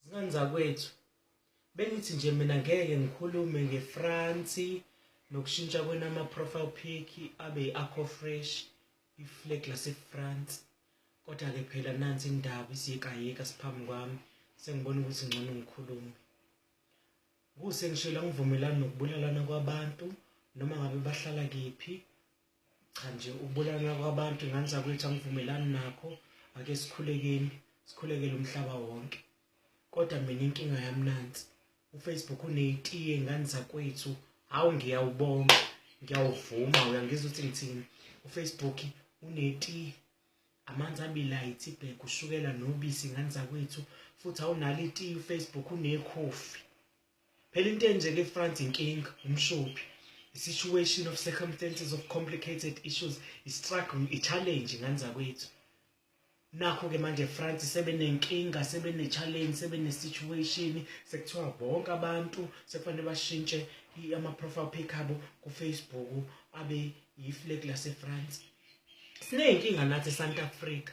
Zingane zakwethu bengithi nje mina ngeke ngikhulume ngeFrance nokushintsha kwena ama profile pic abe akho fresh iflag laseFrance kodwa ke phela nansi indaba isiyekayeka siphambi kwami sengibona ukuthi ngcono ngikhulume kuse ngishela ngivumelana nokubulalana kwabantu noma ngabe bahlala kephi cha nje ubulala kwabantu nganza kwethu angivumelani nakho ake sikhulekeni sikhulekele umhlaba wonke kodwa mina inkinga yami nansi ufacebook uneyitiye ngani zakwethu hawu ngiyawubonga ngiyawuvuma uyangizwa ukuthi ngithini ufacebook unetiye amanzi abilayithi ibheke ushukela nobisi ngani zakwethu futhi awunalo itiye ufacebook unekhofi Phela into enjeke eFrance inkinga umshophi. The situation of circumstances of complicated issues is struggling a challenge nganza kwethu. Nakho ke manje France sebenenkinga, sebene challenge, sebene situation, sekuthiwa bonke abantu sekufanele bashintshe ama profile pic abo ku Facebook abe yi flag lase France. Sinenkinga nathi eSouth Africa.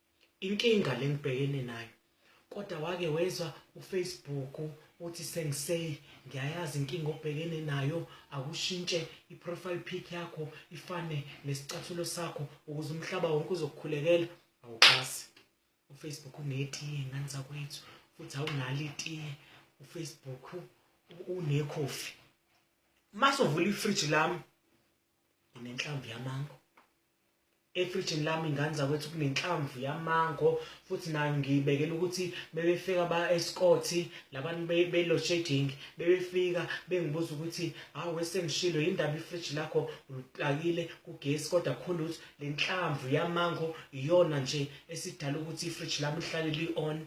Inkinga lengibhekene nayo kodwa wake wezwa uFacebook uthi sengisay ngiyayazi inkinga obhekene nayo akushintshe iprofile pic yakho ifane nesicathulo sakho ukuze umhlaba wonke uzokukhulekela awuxasi uFacebook unetiye ngani zakwethu futhi awunalo itiye uFacebook unekhofi mase uvula ifridge lami nginenhlamvu yamango efrijini lami ingane zakwethu kunenhlamvu yamango futhi nayo ngiyibekela ukuthi bebefika ba escothi labantu belo shading bebefika bengibuza ukuthi hawu wesengishilo yindaba ifridge lakho uliplakile kugesi kodwa khona ukuthi le nhlamvu yamango iyona nje esidala ukuthi ifridge lami lihlale li-on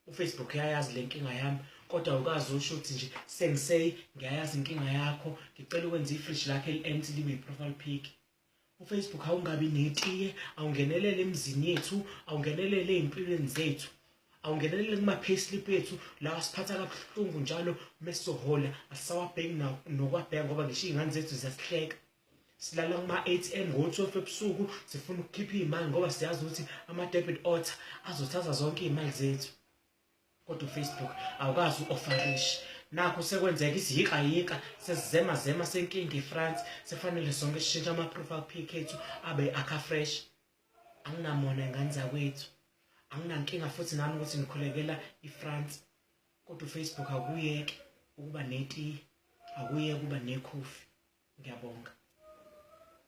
ufacebook yayazi le nkinga yami kodwa ukazi usho ukuthi nje sengisey ngiyayazi inkinga yakho ngicela ukwenza ifridge lakhe eli-ent libe yi-profile pic ufacebook awungabi netiye awungenelele emizini yethu awungenelele ey'mpilweni zethu awungenelele kuma-payslip ethu lawa siphatha kabuhlungu njalo uma sizohola asisawabheki nokwabheka ngoba ngisho iy'ngane zethu ziyasihleka silala kuma-atm ngo-twelve ebusuku sifuna ukukhipha iy'mali ngoba siyazi ukuthi ama-debit order azothatha zonke iy'mali zethu kodwa ufacebook awukazi u-ofarishi nakho sekwenzeka isiyikayika sesizemazema senkinga efrance sekufanele sonke sishintshe ama-profile pic ethu abe akafresh anginamona ingane zakwethu anginankinga futhi nami ukuthi ngikhulekela ifrance kodwa ufacebook akuyeke ukuba neti akuye kuba nekhofi ngiyabonga